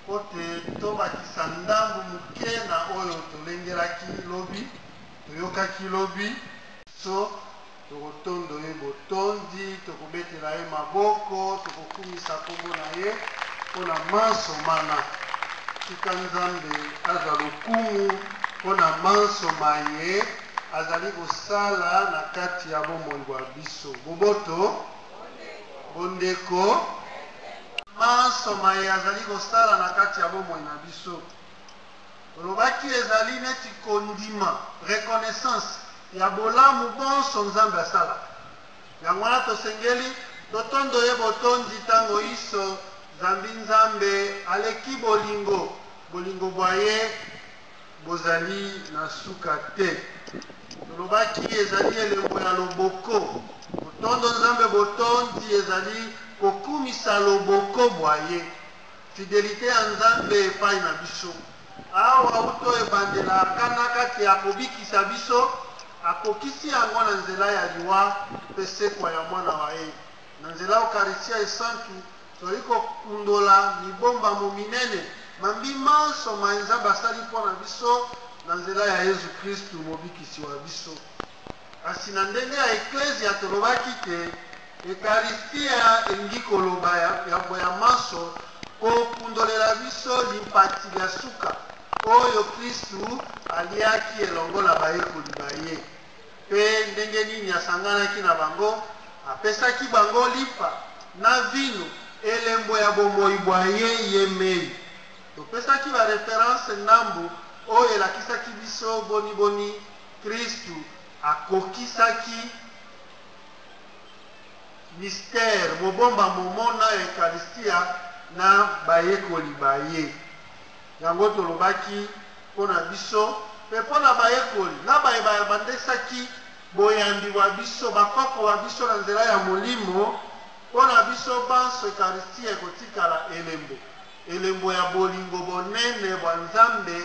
Mpo te tobakisa ndambo moke na oyo tolengelaki lobi, toyokaki lobi, so tokotondo ye botondi, tokobetela ye maboko, tokokumisa nkombo na ye mpo na manso mana. Tika Nzambe azwa lokumu mpo na manso maye azali kosala na kati ya bomoi bwa biso. Boboto. bondeko manso maye azali kosala na kati ya bomoi na biso olobaki ezali neti kondima reconnaissance ya bolamu bonso nzambe asala yango wana tosengeli totondo ye botondi ntango iso zambi nzambe aleki bolingo bolingo bwa ye bozali na suka te tolobaki ezali elembo ya loboko botondo nzambe botondi ezali kokumisa loboko bwa ye fidelite ya nzambe epai na biso awa uto ebandela kana kati ya kobikisa biso akokisi yango na nzela ya liwa mpe sekwa ya mwana wa ye na nzela ya ukaristia esantu Tozali kokundola mibombamo minene, mambi manso maye Nzambe asali mpo na biso na nzela ya Yezu Kristu, Mobikisi wa biso. Kasi na ndenge ya Eklezia, tolobaki te Ekaristya elingi koloba yambo ya manso kokundolela biso limpati lya suka oyo Kristu aliaki elongo na bayekoli ba ye. Mpe ndenge nini asanganaki na bango, apesaki bango lipa na vinu, elembo ya bomoi bwa ye yemei. Topesaki ba references ndambo oyo elakisaki biso boni boni Kristu akokisaki mystère, mobombamo, mona ya Eucharistia na bayekoli ba ye. Yango tolobaki mpo na biso mpe mpo na bayekoli na baye bayabandesaki boyambi bwa biso, bakoko ba biso na nzela ya Molimo, mpo na biso banso Ekaristiya ekotikala elembo, elembo ya bolingo bonene bwa Nzambe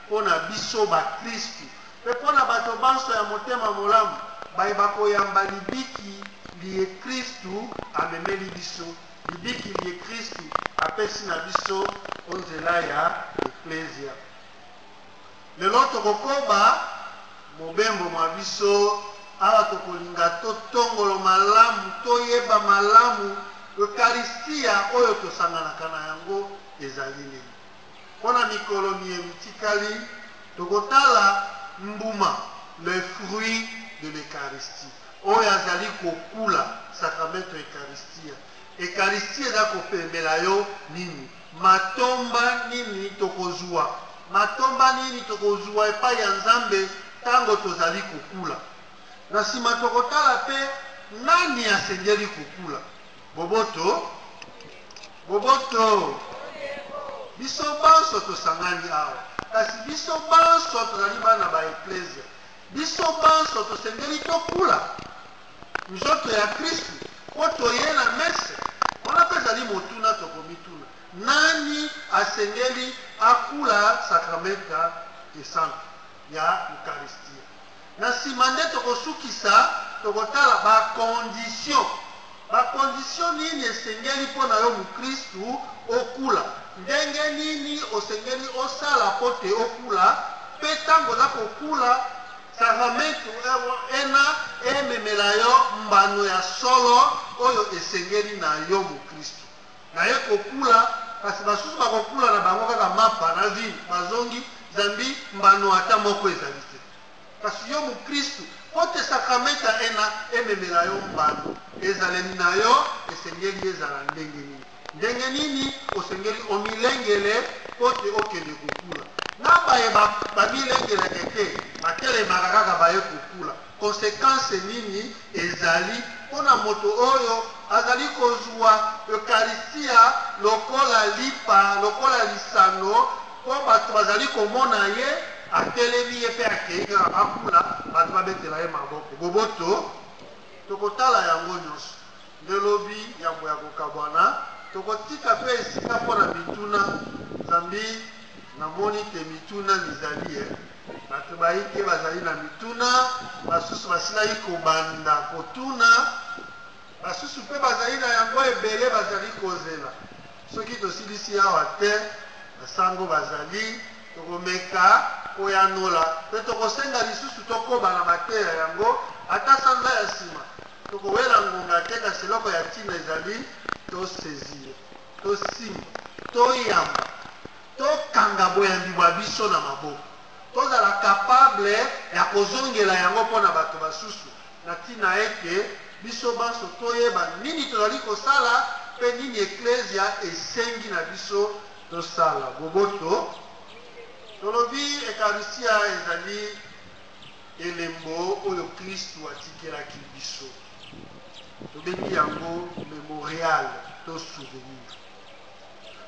mpo na biso bakristu, mpe mpo na bato banso ya motema molamu baye bakoyamba libiki liye Kristu amemeli biso. libiki liye Kristu apesi na biso o nzela ya Eklezia. Lelo tokokoba mobembo mwa biso awa tokolinga totongolo malamu, toyeba malamu Eucharistia oyo tosanganaka na yango ezali nini. Mpo na mikolo miye mitikali, tokotala mbuma, le fruit de l'Eucharistie, oyo azali kokula, Sacramento Eucharistia. Eucharistie eza kopemela yo nini? Matomba nini tokozwa? Matomba nini tokozwa epai ya Nzambe ntango tozali kokula? Na nsima tokotala mpe nani asengeli kokula. Boboto, boboto. Biso banso tosangani awa, kasi biso banso tozali bana ba eklezia. Biso banso tosengeli tokula nzoto ya Kristu mpo toye na mese. Wana mpe ezali motuna tokomituna, nani asengeli akula sakramenta esantu ya Ukaristia? Na nsima nde tokosukisa, tokotala ba conditions. Ba conditions nini esengeli mpo na yo mukristu okula? Ndenge nini osengeli osala mpo te okula? Mpe ntango oza kokula, sakramentu ena ememela yo mbano ya solo oyo esengeli na yo mukristu. Naye kokula kasi basusu bakokula na bango kaka mapa na ville bazongi zambi mbano ata moko ezali te kasi yo mokristu mpo te sakramenta ena ememela yo mbano ezaleli na yo esengeli ezala ndenge nini ndenge nini osengeli omilengele mpo te okende kokula na baye bamilengelaka te batelemaka kaka baye kokula Konsekanse nini ezali mpo na moto oyo azali kozwa Eukaristia lokola lipa, lokola lisano, mpo bato bazali komona ye atelemi ye mpe akei kaka bakula bato babetela ye maboko boboto tokotala yango nyonso nde lobi yambo ya kokabwana tokotika mpe esika mpo na mituna zambi namoni te mituna mizali ye eh. Bato baike bazali na mituna, basusu basilaki kobanda kotuna, basusu mpe bazali na yango ebele bazali kozela. Soki tosilisi awa te, basango bazali, tokomeka koyanola mpe tokosenga lisusu tokoba na mateya yango ata sanza ya nsima. Tokowela ngonga te, kasi eloko ya ntina ezali tosaisir. Tosimba, toyamba, tokanga boyambi bwa biso na maboko, tozala capable ya kozongela yango mpo na bato basusu, na ntina ete biso banso toyeba nini tozali kosala mpe nini Eklezia esengi na biso tosala. Boboto, tolobi Ekarisia ezali elembo oyo Klistu atikelaki biso. tobengi yango memorial to souvenir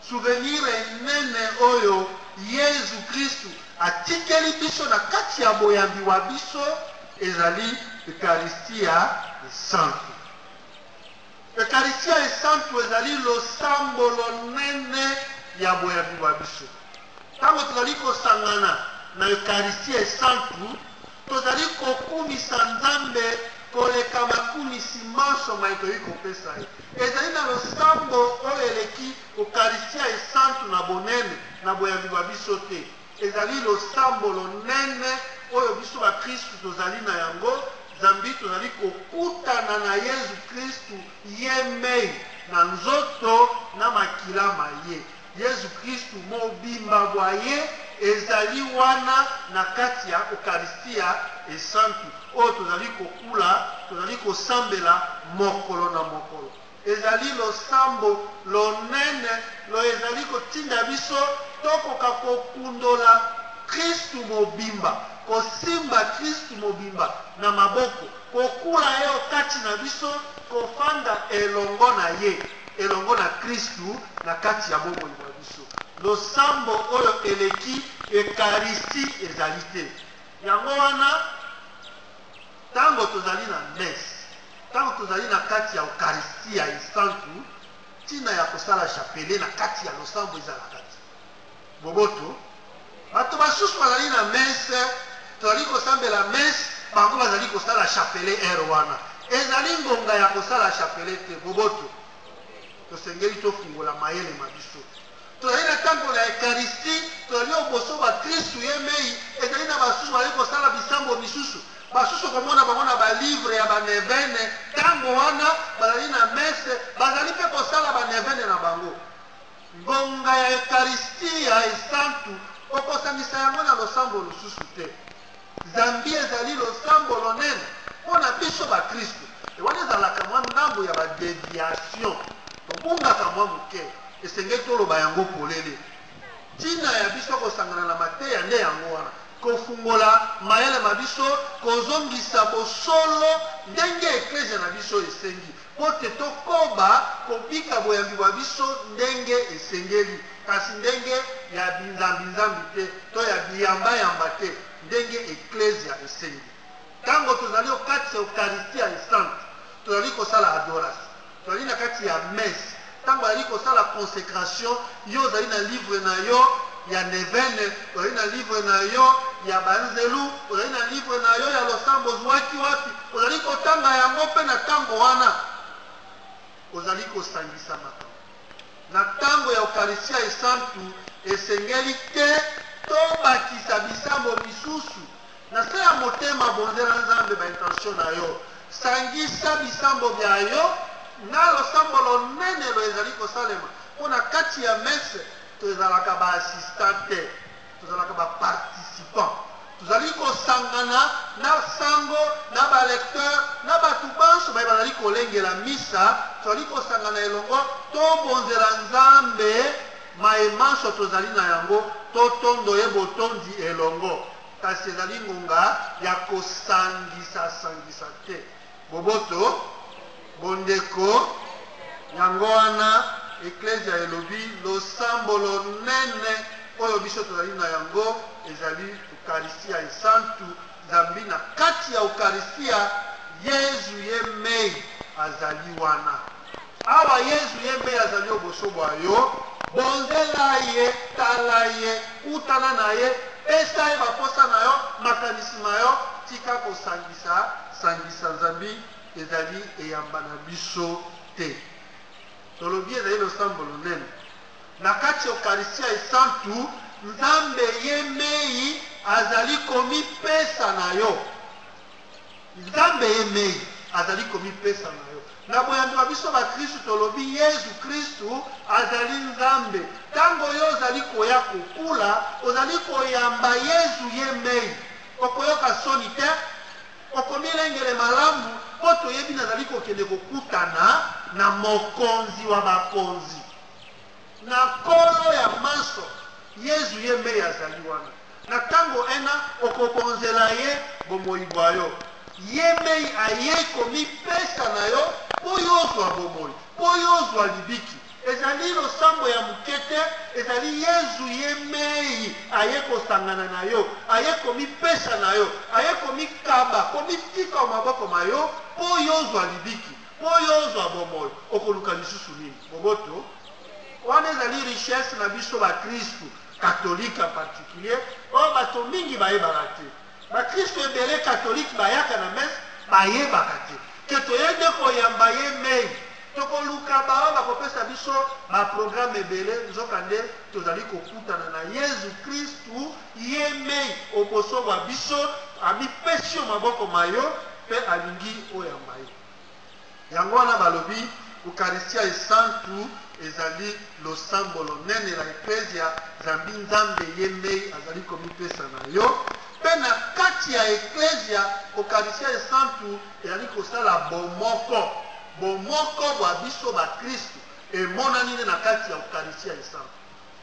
souvenir enene oyo yezu kristu atikeli biso na kati ya boyambi wa biso ezali ekaristiya esantu ekaristiya esantu ezali losambo lonene ya boyambi wa biso ntango tozali kosangana na ekaristiya esantu Tozali kokumisa Nzambe koleka makumisi manso maye toyei kopesa ye. Ezali na losambo oyo eleki Ukaristya Esantu na bonene, na boyambi bwa biso te. Ezali losambo lonene oyo biso bakristu tozali na yango, zambi tozali kokutana na Yezu Kristu yemei, na nzoto na makila ma ye. Yesu Klistu mobimba bwa Ye ezali wana na kati ya Ukaristia Esantu oyo tozali kokula, tozali kosambela mokolo na mokolo. Ezali losambo lonene loye ezali kotinda biso tokoka kokundola Klistu mobimba, kosimba Klistu mobimba na maboko. Kokula ye o kati na biso, kofanda elongo na ye, elongo na Kristu na kati ya bomoi bwa biso. Losambo oyo eleki Ekaristi ezali te. Yango wana, ntango tozali na messe, ntango tozali na kati ya Ukaristia Esantu, ntina ya kosala chapelet na kati ya losambo ezalaka te. Boboto, bato basusu bazali na messe, tozali kosambela messe, bango bazali kosala chapelet heure wana. Ezali ngonga ya kosala chapelet te. Boboto, tosengeli tofungola mayele ma biso. Tozali na ntango na Eucharistie, tozali oboso ba Kristu ye mei, ezali na basusu bazali kosala bisambo misusu basusu komona bango na balivre ya banevene ntango wana bazali na mese bazali mpe kosala banevene na bango Ngonga ya Ekaristiya esantu kokosangisa yango na losambo lususu te. Zambi ezali losambo lonene mpo na biso bakristu. Wana ezalaka mwa ndambo ya badeviation, tobungaka mwa moke, esengeli toloba yango polele. Ntina ya biso kosangana na mateya nde yango wana, kofungola mayele ma biso, kozongisa bosolo ndenge eklezia na biso esengi, mpo te tokoba kobika boyambi bwa biso ndenge esengeli, kasi ndenge ya binzambinzambi te to ya biyambayamba te, ndenge Eklezia esengi. Ntango tozali okati ya Ukaristia Esante, tozali kosala adorasio, tozali na kati ya mese, Tango azali kosala consecration, yo ozali na livre na yo ya nevene, ozali na livre na yo ya banzelu, ozali na livre na yo ya losambo ozwaki wapi, ozali kotanga yango mpe na tango wana ozali kosangisa makambo. Na tango ya Eukaristya Esantu esengeli te tobakisa bisambo misusu. Na se ya motema bondela Nzambe ba intention na yo. Sangisa bisambo bya yo na losambo lonene lo ezali kosalema mpo na kati ya messe tozalaka ba assistant te tozalaka ba participant tozali kosangana na sango na balecteur na bato banso baye bazali kolengela misa tozali kosangana elongo tobonzela nzambe maye manso tozali na yango totondo ye botondi elongo kasi ezali ngonga ya kosangisasangisa te boboto bondeko yango wana eklezia elobi losambo lonene oyo biso tozali na yango ezali ukaristia esantu zambi na kati ya ukaristia yezu ye mei azali wana Awa Yezu ye mpe azali o boso bwa yo, bonzela ye, tala ye, kutana na ye, pesa ye baposa na yo, makanisi ma yo, tika kosangisa sangisa zambi ezali eyamba na biso te. Tolobi ezali losambo lonene. Na kati ya Eukaristia Esantu, Nzambe ye mei azali komipesa na yo. Nzambe ye mei azali komipesa na yo. Na boyambi wa biso bakristu tolobi Yezu Kristu azali Nzambe. Ntango yo ozali koya kokula, ozali koyamba Yezu ye mei. Okoyoka soni te, okomilengele malamu mpo toyebi nazali kokende kokutana na mokonzi wa bakonzi. Na Nkolo ya manso, Yezu ye mei azali wana. Na tango ena, okobonzela ye bomoi bwa yo. Ye mei ayei komipesa na yo mpo y'ozwa bomoi, mpo y'ozwa libiki. Ezali losambo ya moke te, ezali Yezu ye mei aye kosangana na yo, aye komipesa na yo, aye komikaba, komitika o maboko ma yo mpo y'ozwa libiki. mpo yo ozwa bomoi okoluka lisusu nini boboto wana ezali richesse na biso bakristu katolike en particulier oyo oh, bato mingi bayebaka te bakristu ebele katolike bayaka na mese bayebaka te ke toye nde koyamba ye mei tokoluka baoyo bakopesa biso baprograme ebele nzokande tozali kokutana na yezu kristu ye mei oboso bwa biso amipesi yo maboko ma yo mpe alingi oyamba ye Yango wana balobi, Ukaristia Esantu ezali losambo lonene la Eklezia, zambi Nzambe ye mei azali komipesa na yo, mpe na kati ya Eklezia, Ukaristia Esantu ezali kosala bomoko, bomoko bwa biso bakristu emonani nde na kati ya Ukaristia Esantu.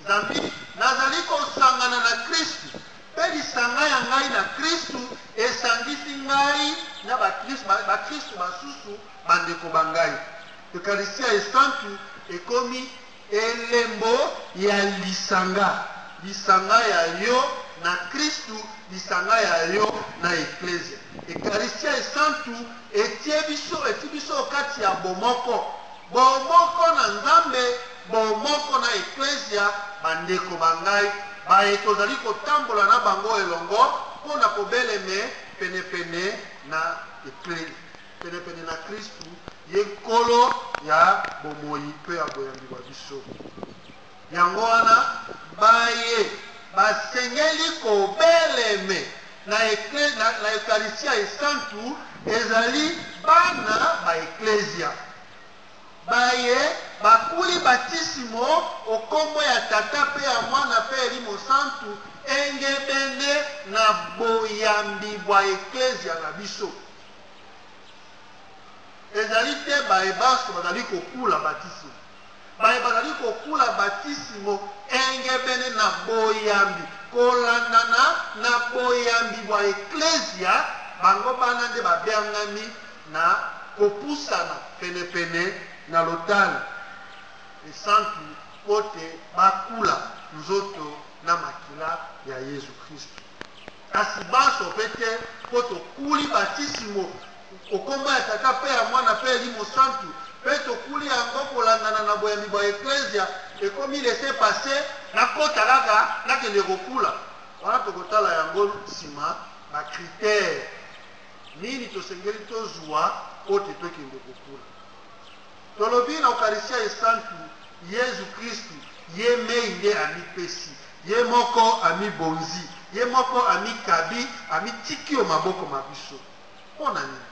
Zambi nazali kosangana na Kristu, mpe lisanga ya ngai na Kristu esangisi ngai na bakristu basusu bandeko ba ngai. Eukaristiya Esantu ekomi elembo ya lisanga, lisanga ya yo na Kristu, lisanga ya yo na Eklezia. Eukaristiya Esantu etie biso eti biso kati ya bomoko bomoko na nzambe bomoko na eklesia bandeko ba ngai baye tozali kotambola na bango elongo mpo na kobeleme penepene na eklesi penepene na kristu ye nkolo ya bomoi mpe ya boyambi bwa biso Yango wana, baye basengeli kobeleme na Eukaristiya Esantu ezali bana ba Eklezia baye bakuli batisimo o nkombo ya Tata mpe ya Mwana mpe Elimo Santu engebene na boyambi bwa Eklezia na biso. Ezali te baye banso bazali kokula batisimo. baye bazali kokula batisimo engebene na boyambi kolandana na boyambi bwa Eklezia, bango bana nde babiangami na kopusana penepene na lotale esantu mpo te bakula nzoto na makila ya Yezu Kristu. kasi banso mpe te, mpo tokuli batisimo okombo ya Tata mpe ya Mwana mpe Elimo Santu, mpe tokuli yango kolandana na boyambi bwa Eklezia, ekomi laisser passer, nakota kaka nakende kokula. Wana tokotala yango nsima ba critères nini tosengeli tozwa mpo te tokende kokula. Tolobi na Ukaristya Esantu, Yezu Kristu ye mei nde amipesi, ye moko amibonzi, ye moko amikabi, amitiki o maboko ma biso. Mpo na nini?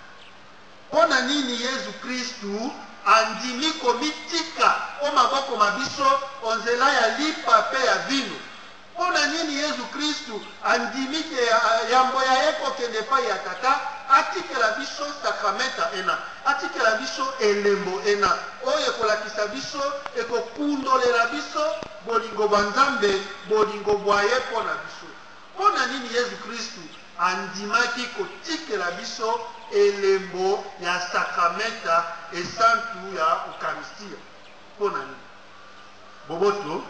Mpo na nini Yezu Kristu andimi komitika o maboko ma biso o nzela ya lipa mpe ya vinu? Mpo na nini Yesu Kristu andimi te yambo ya ye kokende epai ya Tata, atikela biso sakramenta ena, atikela biso elembo ena, oyo ekolakisa biso, ekokundolela biso bolingo bwa Nzambe, bolingo bwa ye mpo na biso? Mpo na nini Yesu Kristu andimaki kotikela biso elembo ya sakramenta esantu ya Ukaristia? Mpo na nini? Boboto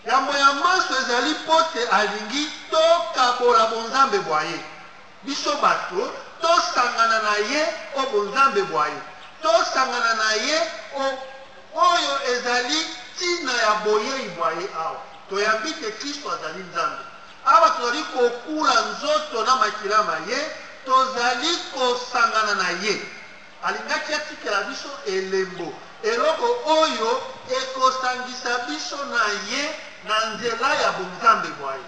yambo ya manso ezali mpo te alingi tokabola bonzambe bwa ye biso bato tosangana na ye o bonzambe bwa ye tosangana na ye o oyo ezali ntina ya boyei bwa ye awa toyambi te kristo azali nzambe awa tozali kokula nzoto na makila ma ye tozali kosangana na ye Alingaki atikela biso elembo, eloko oyo ekosangisa biso na ye na nzela ya bonzambe bwa ye.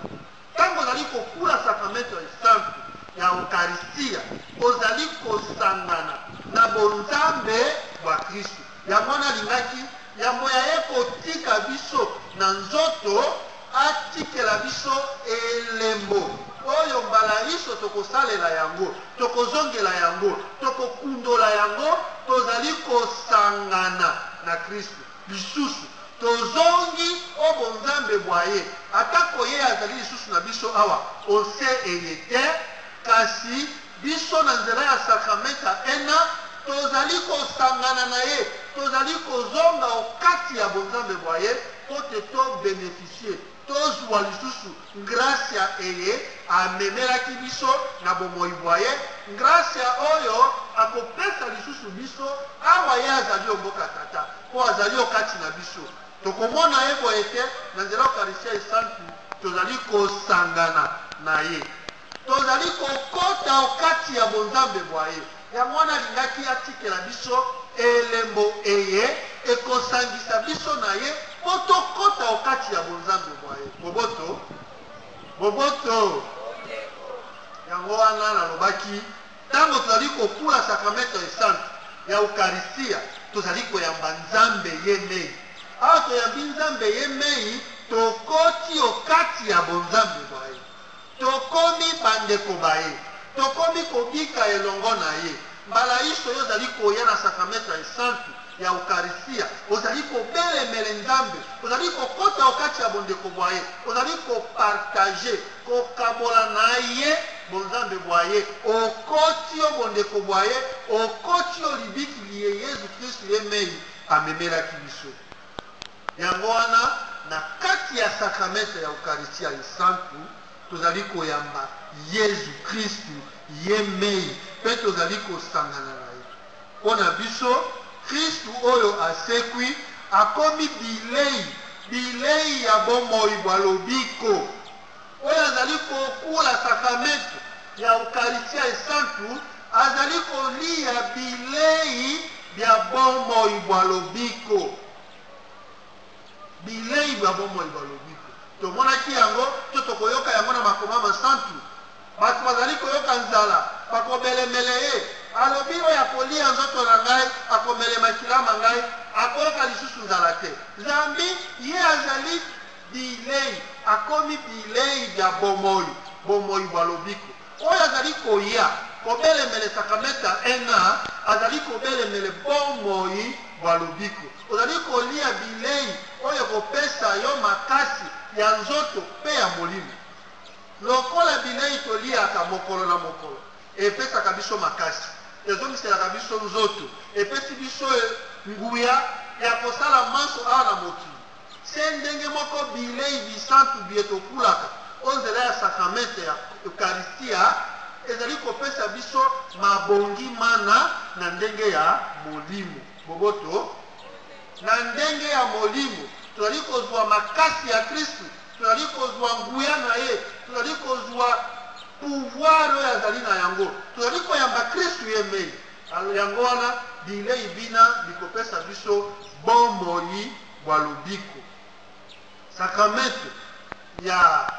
Ntango ozali kokula sakramento ya esantu ya Eukaristia, ozali kosangana na bonzambe bwa Kristu. Yango wana alingaki Yambo ya ye kotika biso na nzoto, atikela biso elembo oyo mbala inso tokosalela yango, tokozongela yango, tokokundola yango, tozali kosangana na Kristu lisusu. Tozongi o bonzambe bwa ye, atako ye azali lisusu na biso awa o nse eye te, kasi Biso, na nzela ya sakramenta ena, tozali kosangana na ye, tozali kozonga o kati ya bonzambe bwa ye mpo te to beneficie, tozwa lisusu ngrasya eye amemelaki biso na bomoi bwa ye, ngrasya oyo akopesa lisusu biso awa ye azali o mboka Tata, mpo azali o kati na biso. Tokomona ye boye ete na nzela Ukaristya Esantu tozali kosangana na ye. Tozali kokota o kati ya bonzambe bwa ye, yango wana alingaki atikela biso elembo eye ekosangisa biso na ye mpo tokota o kati ya bonzambe bwa ye. Boboto, boboto. Yango wana nalobaki, ntango tozali kokula sakramento esantu ya Ukaristia, tozali koyamba Nzambe ye mei. Awa toyambi Nzambe ye mei, tokoti o kati ya bonzambe bwa ye. Tokomi bandeko ba ye. Tokomi kobika elongo na ye. Mbala inso yo ozali koya na Sakramento Esantu ya Ukaristya, ozali kobelemele Nzambe, ozali kokota o kati ya bondeko bwa ye, ozali kopartager, kokabola na ye bonzambe bwa ye, okoti o bondeko bwa ye, okoti o libiki liye Yezu Kristu ye mei amemelaki biso. Yango wana, na kati ya sakramento ya Ukaristia Esantu, tozali koyamba Yezu Kristu ye mei mpe tozali kosangana na ye. Mpo na biso, Kristu oyo asekwi akomi bilei, bilei ya bomoi bwa lobiko. Oyo azali kokula sakramento ya Ukaristia Esantu azali koliya bilei bya bomoi bwa lobiko. bilei bya bomoi bwa lobiko. Tomonaki yango to tokoyoka yango na makoma masantu. Bato bazali koyoka nzala, bakobelemele ye. Alobi, oyo akolia nzoto na ngai, akomele makila ma ngai, akoyoka lisusu nzala te. Zambi ye azali bilei, akomi bilei bya bomoi, bomoi bwa lobiko. Oyo azali koya kobelemele Sakramenta ena azali kobelemele bomoi bwa lobiko. Ozali kolia bilei oyo ekopesa yo makasi ya nzoto mpe ya molimo. Lokola bilei toliaka mokolo na mokolo epesaka biso makasi, ezongiselaka biso nzoto, epesi biso nguya ya kosala manso awa na mokili, Se ndenge moko, bilei bisantu biye tokulaka o nzela ya sakramente ya Ukaristia ezali kopesa biso mabongi mana na ndenge ya molimo. Boboto na ndenge ya molimo, tozali kozwa makasi ya Kristu, tozali kozwa nguya na ye, tozali kozwa pouvoir oyo azali na yango, tozali koyamba Kristu ye mei. Yango wana bilei bina bikopesa biso bomoi bwa lobiko. Sakramento ya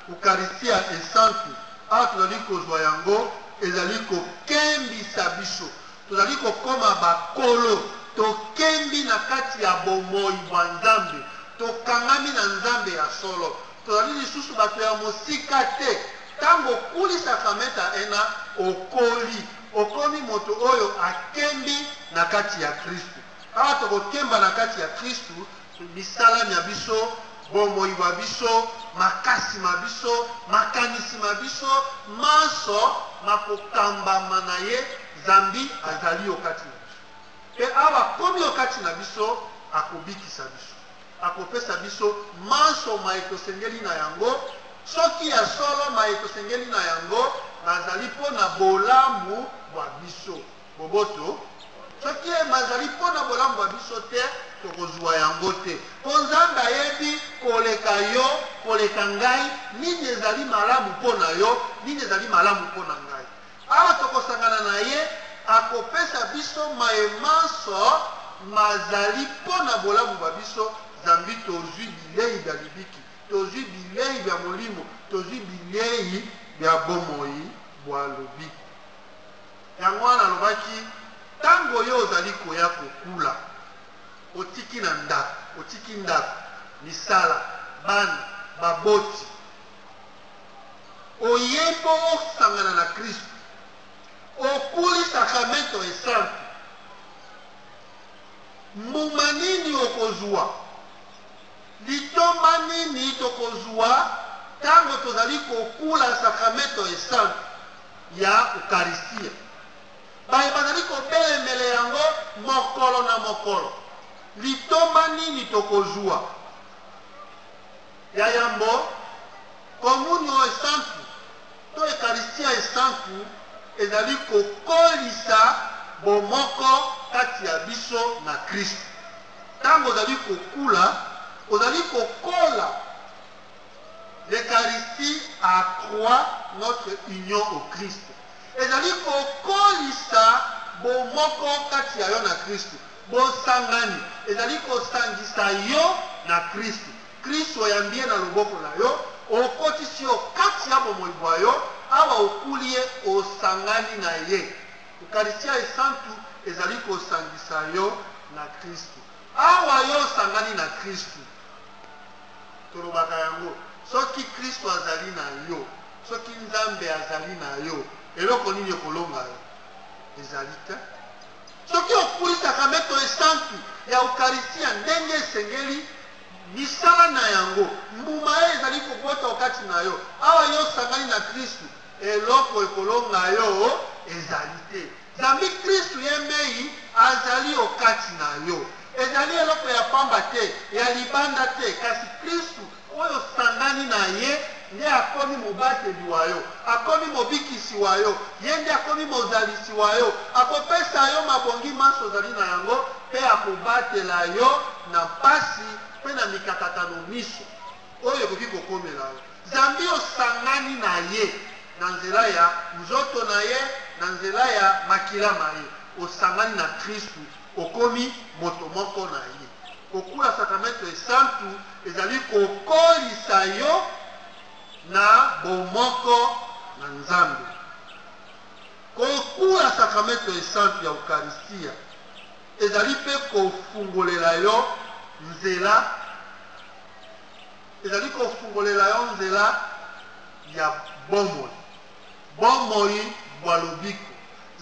Ukaristia Esantu, awa tozali kozwa yango, ezali kokembisa biso, tozali kokoma bakolo, tokembi na kati ya bomoi bwa Nzambe, tokangami na Nzambe ya solo, tozali lisusu bato ya mosika te. Ntango okuli sakramento ya ena, okoli, okomi moto oyo akembi na kati ya Kristu. Awa tokokemba na kati ya Kristu, misala mya biso, bomoi bwa biso, makasi ma biso, makanisi ma biso, manso makokambama na ye, zambi azali o kati na biso. Mpe awa akomi o kati na biso, akobikisa biso, akopesa biso manso maye tosengeli na yango, soki ya solo maye tosengeli na yango mazali mpo na bolamu bwa biso. Boboto, soki ye mazali mpo na bolamu bwa biso te, tokozwa yango te. Mpo Nzambe ayebi koleka yo, koleka ngai, nini ezali malamu mpo na yo, nini ezali malamu mpo na ngai. Awa tokosangana na ye, akopesa biso maye manso mazali mpo na bolamu bwa biso, zambi tozwi bilei bya libiki, tozwi bilei bya molimo, tozwi bilei bya bomoi bwa lobiko. Yango wana alobaki, ntango yo ozali koya kokula, otiki na ndako, otiki ndako, misala, bana, baboti, oye mpo osangana na Kristo, okuli sakramento esantu, mbuma nini okozwa? Litomba nini tokozwa ntango tozali kokula sakramento esantu ya Ukaristia? Baye bazali kobelemele yango mokolo na mokolo, litomba nini tokozwa? Ya yambo, komunio esantu to Ekaristia esantu ezali kokolisa bomoko kati ya biso na Kristu. Ntango ozali kokula, ozali kokola. L'Eucharistie accroît notre union au Christ. Ezali kokolisa bomoko kati ya yo na Kristu. Bosangani ezali kosangisa yo na Kristu. Kristu oyambi ye na loboko na yo, okotisi yo kati ya bomoi bwa yo, awa okuli ye, osangani na ye. Ukaristya Esantu ezali kosangisa yo na Kristu. Awa yo osangani na Kristu, tolobaka yango, soki Kristu azali na yo, soki Nzambe azali na yo, eloko nini ekolonga yo? Ezali te. Soki okuli sakramento esantu ya Ukaristya ndenge esengeli, misala na yango mbuma ye ezali kobota okati na yo awa yo osangani na Kristu. Eloko ekolonga yo ezali te. Zambi Kristu ye mei azali o kati na yo. Ezali eloko ya pamba te, ya libanda te, kasi Kristu oyo osangani na ye nde akomi mobateli wa yo, akomi mobikisi wa yo, ye nde akomi mozalisi wa yo. Akopesa yo mabongi manso ozali na yango mpe akobatela yo na mpasi mpe na mikakatano minso. oyo ekoki kokomela yo zambi osangani na ye na nzela ya nzoto na ye na nzela ya makila ma ye osangani na kristu okomi moto moko na ye kokula sakramento esantu ezali kokolisa yo na bomoko na nzambe kokula sakramento esantu ya ukaristia Ezali mpe kofungolela yo nzela, ezali kofungolela yo nzela ya bomoi, bomoi bwa lobiko.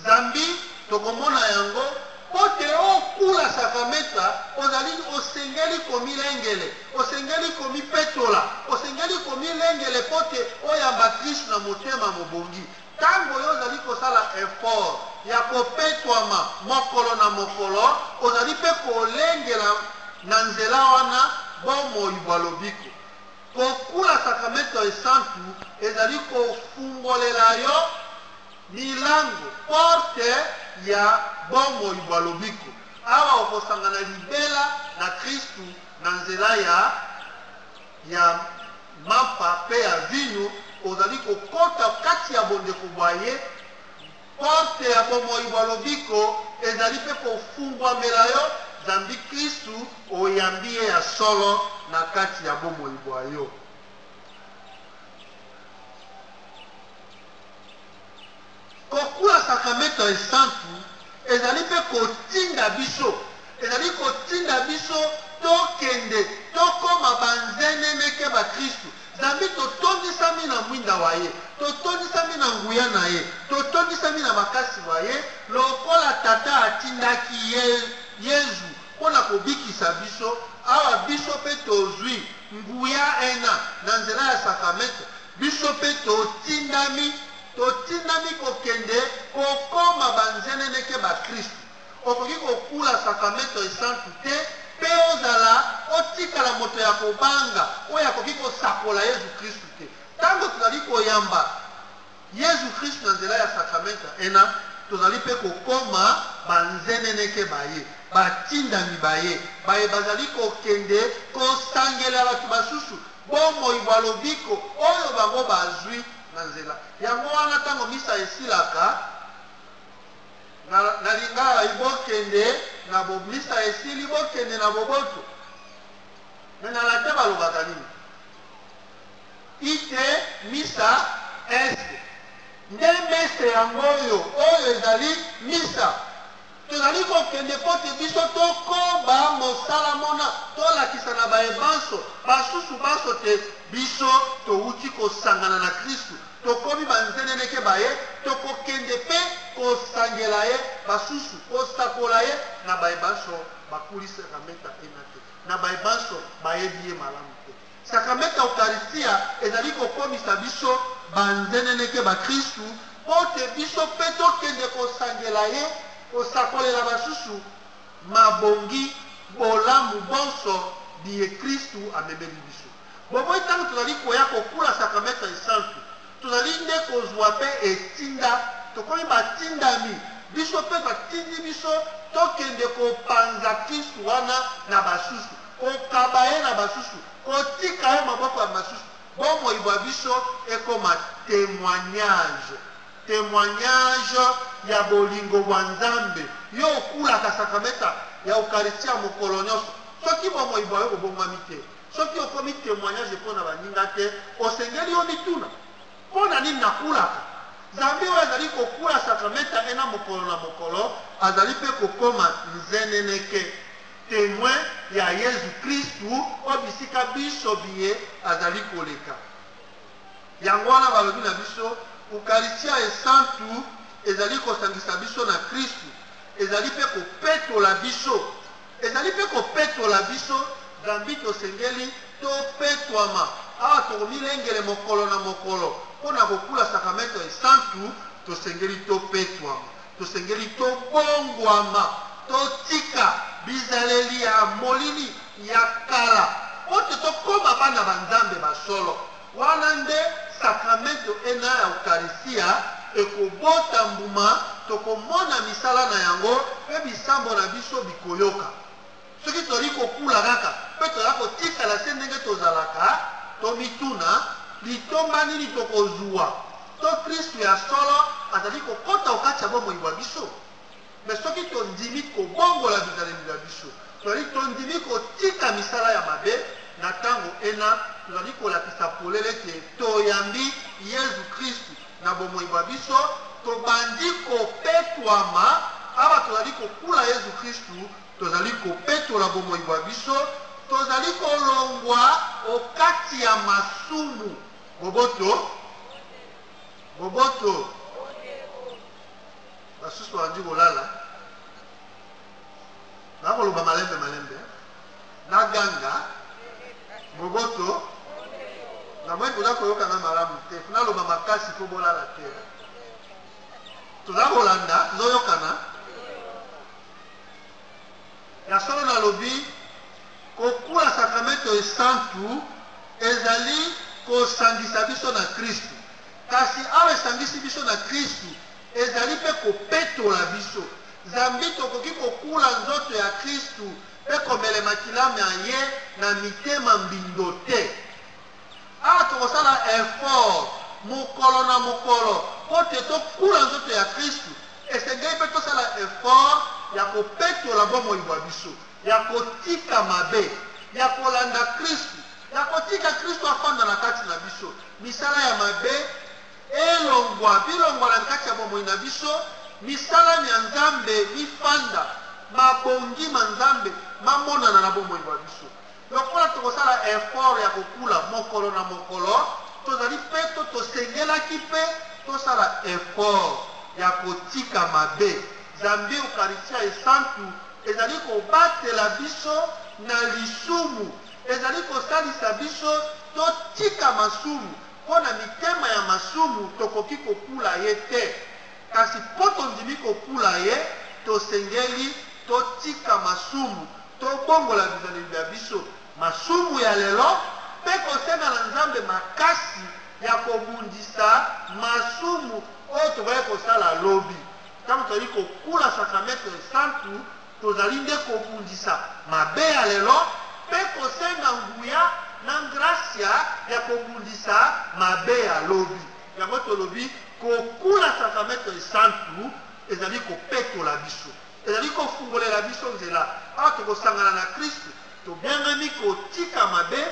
Zambi tokomona yango mpo te okula sakameta, ozali osengeli komilengele, osengeli komipetola, osengeli komilengele mpo te oyamba Kristu na motema mobongi. Ntango yo ozali kosala effort ya kopetwama mokolo na mokolo, ozali mpe kolengela na nzela wana bomoi bwa lobiko. Kokula sakramento esantu ezali kofungolela yo milango, porte ya bomoi bwa lobiko, awa okosangana libela na Kristu na nzela ya. ya mampa mpe ya vino, ozali kokota kati ya bondeko bwa ye, porte ya bomoi bwa lobiko ezali mpe kofungwamela yo, zambi Kristu oyambi ye ya solo na kati ya bomoi bwa yo. Kokula Sakramentu Esantu ezali mpe kotinda biso, ezali kotinda biso tokende, tokoma banzeneneke ba Kristu, zambi totondisami na mwinda wa ye, totondisami na nguya na ye, totondisami na makasi ma ye, lokola Tata atindaki ye, Yezu, mpo na kobikisa biso, awa biso mpe tozwi nguya ena na nzela ya Sakramentu, biso mpe totindami. Totindami kokende kokoma banzeneneke bakristu. Okoki kokula Sakramento Esantu te mpe ozala otikala moto ya kobanga oyo akoki kosakola Yezu Kristu te. Tango tozali koyamba Yezu Kristu na nzela ya Sakramento ena, tozali mpe kokoma banzeneneke ba ye, batindami ba ye, baye bazali kokende kosangelela bato basusu bomoi bwa lobiko oyo bango bazwi. na nzela. Yango wana ntango misa esilaka, na, na lingala bokende na bo, misa esili bokende na boboto. Me na latin balobaka nini? Ite misa est nde mese yango oyo oyo ezali misa Tozali kokende mpo te biso tokoba mosala mona, tolakisa na baye banso basusu banso te biso towuti kosangana na Kristu, tokomi banzeneneke ba ye, tokokende mpe kosangela ye basusu, kosakola ye na baye banso bakulisaka meta ena te, na baye banso bayebi ye malamu te. Sakramento ya Ukaristia ezali kokomisa biso banzeneneke bakristu mpo te biso mpe tokende kosangela ye, kosakolela basusu mabongi bolamu bonso biye Kristu amemeli biso. Bomoi ntango tozali koya kokula Sakramento Esantu, tozali nde kozwa mpe etinda, tokomi batindami, biso mpe batindi biso tokende kopanza Kristu wana na basusu. kokaba ye na basusu, kotika ye maboko ya basusu, bomoi bwa biso ekoma temoignage, temoignage ya bolingo bwa Nzambe. Yo okulaka sakramenta ya Ukaristia mokolo nyonso, soki bomoi bwa yo bobongwami te, soki okomi temoignage mpo na baninga te, osengeli yo mituna mpo na nini nakulaka. Zambi oyo azali kokula sakramenta ena mokolo na mokolo, azali mpe kokoma nzeneneke. Temoin ya Yezu Kristu o bisika binso biye azali koleka. Yango wana balobi na biso, Ukaristia Esantu ezali kosangisa biso na Kristu, ezali mpe kopetola biso, ezali mpe kopetola biso, zambi tosengeli topetwama. Awa tokomilengele mokolo na mokolo mpo na kokula Sakramento Esantu, tosengeli topetwama. Tosengeli tobongwama, totika bizaleli ya molili ya kala, mpo te tokoma bana ba Nzambe ba solo. Wana nde sakramento ena ya Ukaristya ekobota mbuma, tokomona misala na yango, mpe bisambo na biso bikoyoka. soki tozali kokula kaka mpe tozala kotikala se ndenge tozalaka tomituna litomba nini tokozwa to kristu ya solo azali kokɔta okati ya bomoi bwa biso me soki tondimi kobongola bizaleli na biso tozali tondimi kotika misala ya mabe na ntango ena tozali kolakisa polele ete toyambi yezu kristu na bomoi bwa biso tobandi kopetwama awa tozali kokula yezu kristu Tozali kopetola bomoi bwa biso, tozali kolongwa o kati ya masumu. Boboto, boboto. Basusu balandi kolala, nakoloba malembe malembe, naganga boboto. Namoni boza koyokana malamu te, naloba makasi mpo bolala te. Toza kolanda, tozoyokana. Ya solo nalobi, kokula sakramento esantu ezali kosangisa biso na Kristu. Kasi awa esangisi biso na Kristu, ezali mpe kopetola biso, zambi tokoki kokula nzoto ya Kristu mpe komele makila ma ye na mitema mbindo te. Awa tokosala effort mokolo na mokolo mpo te tokula nzoto ya Kristu. Esengeli mpe tosala effort ya kopetola bomoi bwa biso, ya kotika mabe, ya kolanda Kristu, ya kotika Kristu afanda na kati na biso. Misala ya mabe elongwa, bilongwa na kati ya bomoi na biso, misala mya Nzambe mifanda, mabongi ma Nzambe mamonana na bomoi bwa biso. Lokola tokosala effort ya kokula mokolo na mokolo, tozali mpe to tosengelaki mpe tosala effort ya kotika mabe. Zambi Ukaristya Esantu ezali kobatela biso na lisumu, ezali kosalisa biso totika masumu, mpo na mitema ya masumu tokoki kokula ye te. Kasi mpo tondimi kokula ye, tosengeli totika masumu, Tobongola bizaleli bya biso, masumu ya lelo, mpe kosenga na Nzambe makasi ya kobundisa masumu oyo tokokaki kosala lobi. Ntango tozali kokula sakramente esantu, tozali nde kobundisa mabe ya lelo mpe kosenga nguya na ngrasya ya kobundisa mabe ya lobi. Yango tolobi kokula sakramente esantu ezali kopetola biso. Ezali kofungolela biso nzela. Awa tokosangana na Kristu, tobiangami kotika mabe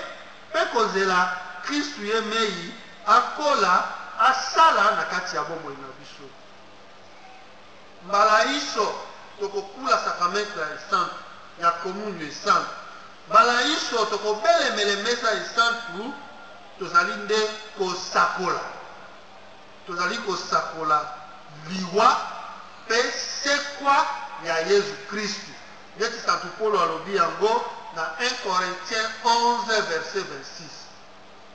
mpe kozela Kristu ye mei akola, asala na kati ya bomoi na biso. Mbala inso tokokula sakramentu ya esantu ya komunio esantu. Mbala inso tokobelemele mesa esantu, tozali nde kosakola. Tozali kosakola liwa mpe sekwa ya Yezu Kristu, neti santu Polo alobi yango na 1 Corinthiens 11 verset 26.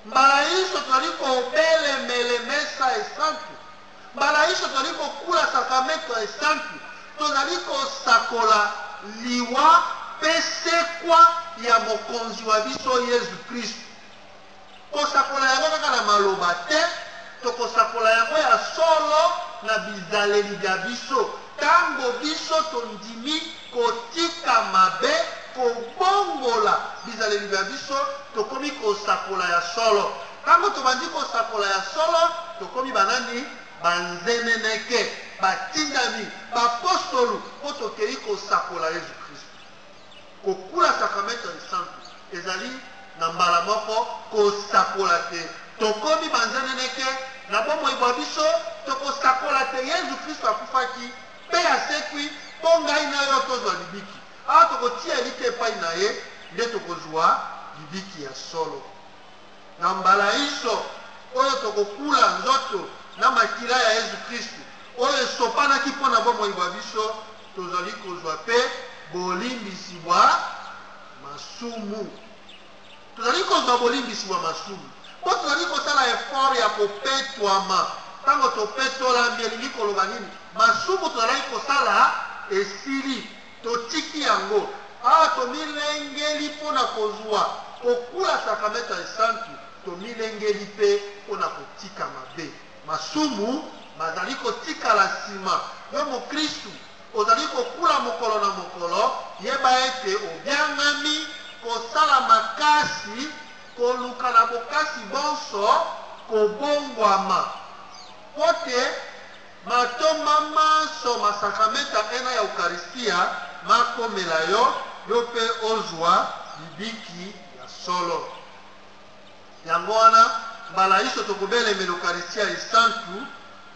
Mbala inso tozali kobelemele mesa esantu, mbala inso tozali kokula sakramento esantu, tozali kosakola liwa mpe sekwa ya Mokonzi wa biso Yezu Kristu. Kosakola yango kaka na maloba te, tokosakola yango ya solo na bizaleli bya biso. Ntango biso tondimi kotika mabe, kobongola bizaleli bya biso, tokomi kosakola ya solo. Ntango tobandi kosakola ya solo, tokomi banani? Banzeneneke, batindami, bapostolu, mpo tokei kosakola Yesu Kristo. Kokula Sakramento Esantu ezali na mbala moko kosakola te tokomi banzeneneke na bomoi bwa biso, tokosakola te Yezu Kristu akufaki mpe asekwi mpo ngai na yo tozwa libiki. Awa tokotia elikya epai na ye nde tokozwa libiki ya solo. Na mbala inso oyo tokokula nzoto na makila ya Yezu Kristu oyo esopanaki mpo na bomoi bwa biso, tozali kozwa mpe bolimbisi bwa masumu tozali kozwa bolimbisi bwa masumu mpo tozali kosala efort ya kopetwama ntango topetolami elingi koloba nini masumu tozalaki kosala esili totiki yango awa ah, tomilengeli mpo na kozwa kokula sakramento ya esantu tomilengeli mpe mpo na kotika mabe Masumu mazali kotikala nsima. Yo mokristu, ozali kokula mokolo na mokolo, yeba ete obiangami kosala makasi, koluka na bokasi bonso kobongwama, mpo te matomba manso ma sakramenta ena ya Ukaristia makomela yo, yo mpe ozwa libiki ya solo. Yango wana, mbala inso tokobelemela Ukaristia Esantu,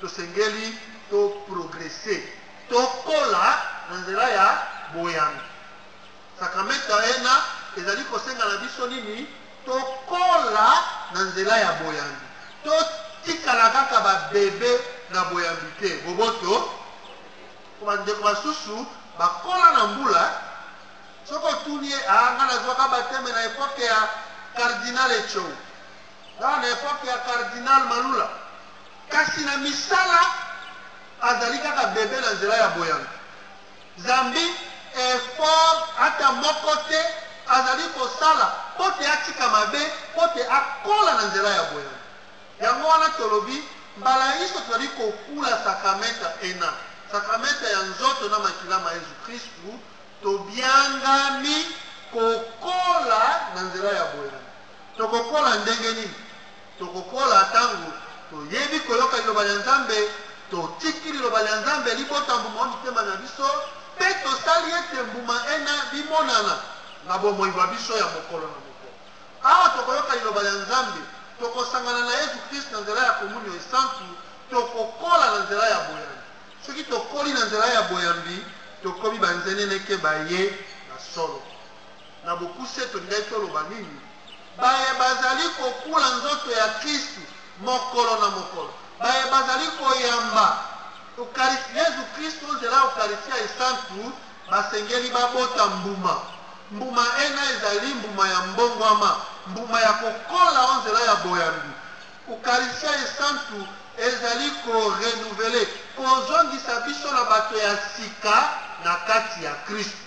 tosengeli to progrese, tokola na nzela ya boyambi. Sakramento ya ena ezali kosenga na biso nini? Tokola na nzela ya boyambi, totikala kaka babebe na boyambi te. Boboto bandeko basusu bakola na mbula soki otuni ye ah, nga nazwaka bateme na epoke ya cardinal echou aa na epoke ya cardinal malula kasi na misala azali kaka bebe na nzela ya boyanga zambi effort ata moko te azali kosala mpo te atika mabe mpo te akola na nzela ya boyanga yango wana tolobi mbala inso tozali kokula sakramenta ena sakramenta ya nzoto na makila ma yesu kristu Tobiangami kokola na nzela ya boyambi. Tokokola ndenge nini? Tokokola ntango toyebi koyoka liloba lya Nzambe, totiki liloba lya Nzambe libota mbuma wa mitema na biso, mpe tosali ete mbuma ena bimonana na bomoi bwa biso ya mokolo na mokolo. Awa tokoyoka liloba lya Nzambe, tokosangana na Yesu Kristu na nzela ya komunio esantu, tokokola na nzela ya boyambi. Soki tokoli na nzela ya boyambi, tokomi banzeneneke baye na solo. Na bokuse, tolingaki toloba nini? Baye bazali kokula nzoto ya Kristu mokolo na mokolo, baye bazali koyamba Ukaristi, Yezu Kristu o nzela ya Ukaristiya esantu, basengeli babota mbuma. Mbuma ena ezali mbuma ya mbongwama, mbuma ya kokola o nzela ya boyambi. Ukaristya Esantu ezali ko renouveler, kozongisa biso na bato ya sika na kati ya Kristu.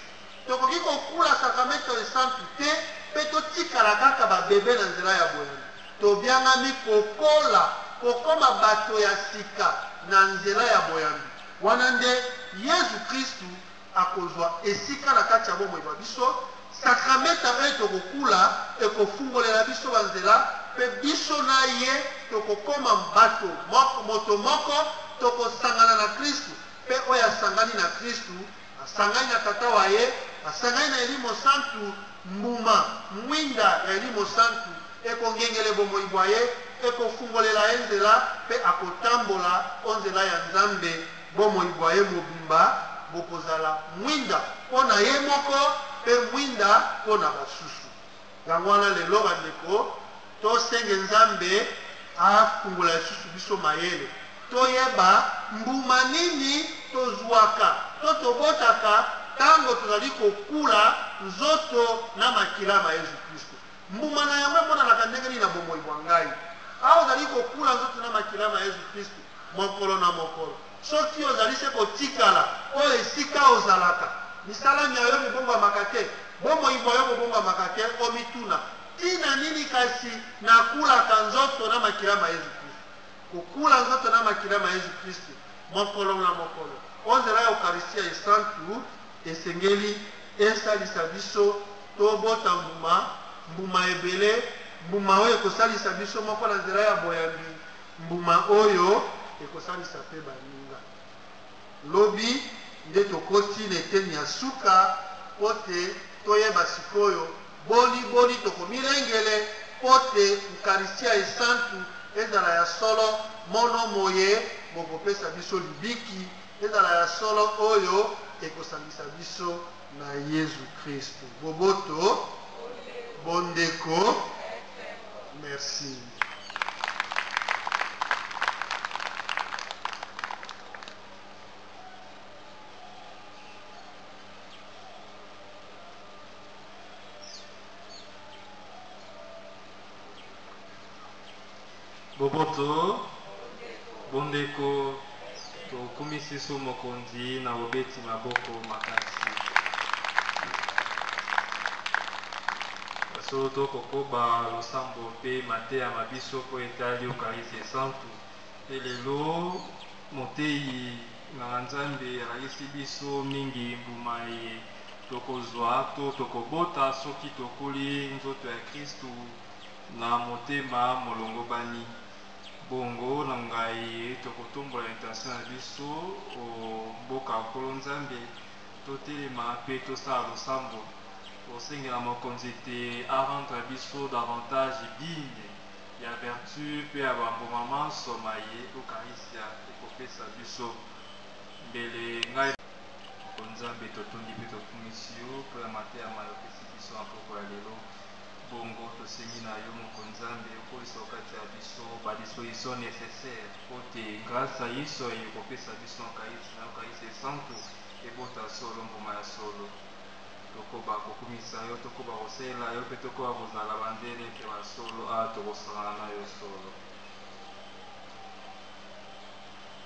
Tokoki kokula Sakramento Esantu te mpe totikala kaka ba bebe na nzela ya boyambi. Tobiangami kokola, kokoma bato ya sika na nzela ya boyambi. Wana nde Yezu Kristu akozwa esika na kati ya bomoi bwa biso. Sakramenta oyo tokokula ekofungolela biso banzela, mpe biso na ye tokokoma bato moto moko, tokosangana na Kristu, mpe oyo asangani na Kristu asangani na Tata wa ye, asangani na Elimo Santu, mbuma mwinda ya Elimo Santu ekongengele bomoi bwa ye, ekofungolela ye nzela, mpe akotambola o nzela ya Nzambe Bomoi bwa ye mobimba bokozala mwinda mpo na ye moko mpe mwinda mpo na basusu. Yango wana lelo, bandeko, tosenge Nzambe afungola lisusu biso mayele, toyeba mbuma nini tozwaka to tobotaka ntango tozali kokula nzoto na makila ma Yesu Klisto. Mbuma na yango emonanaka ndenge nini na bomoi bwa ngai? Awa ozali kokula nzoto na makila ma Yezu Kristu mokolo na mokolo. Soki ozali se kotikala oyo esika ozalaka, misala mya yo mibongwamaka te, bomoi bwa yo bobongwamaka te, omituna, Ntina nini kasi nakulaka nzoto na makila ma Yezu Kristu? Kokula nzoto na makila ma Yezu Kristu mokolo na mokolo o nzela ya Ukaristia Esantu, Esengeli esalisa biso tobota mbuma, mbuma ebele, mbuma oyo ekosalisa biso moko na nzela ya boyambi, mbuma oyo ekosalisa mpe baninga. Lobi nde tokoti na eteni ya suka mpo te toyeba sikoyo boni boni tokomilengele mpo te Ukaristia Esantu ezala ya solo mono moye mokopesa biso libiki ezala ya solo oyo ekosangisa biso na yezu kristu boboto bondeko merci Boboto, bondeko, tokumisi su mokonzi na bobeti maboko makasi. Solo tokokoba losambo mpe mateya ma biso mpo etali Eukarisi Esantu. Mpe lelo moteyi nganga Nzambe alakisi biso mingi mbuma eye tokozwa to tokobota soki tokuli nzoto ya Kristu na motema molongobani. Bongo na ngai tokotombola intention na biso o mboka Nkolo Nzambe, totelema mpe tosala losambo, kosengela mokonzi te a rendre biso davantage digne ya vertu mpe ya bambuma manso maye Ukaristya ekopesa biso. Mbele ngai Nkolo Nzambe, totondi mpe tokumisi yo mpo ya mateya maye opesi biso na mpokwa ya lelo. Bongo tosengi na yo moko Nzambe okolisa okati ya biso ba disposition necessaire mpo te grâce ya Yesu aye kopesa biso Euchariste na Euchariste Esantu ebota solo mbuma ya solo tokoba kokumisa yo tokoba kosalela yo mpe tokoba kozala banzele mpe basolo awa tokosangana na yo solo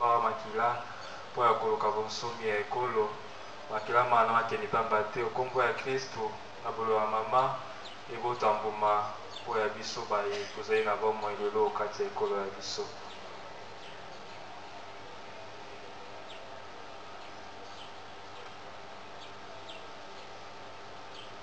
mawa makila mpo ya koluka bonsomi ya ekolo makila mana makende mpamba te okombo ya kristu na bolo ya mama ebota mbuma mpo ya biso baye tozali na bomoi lelo kati ya ekolo ya biso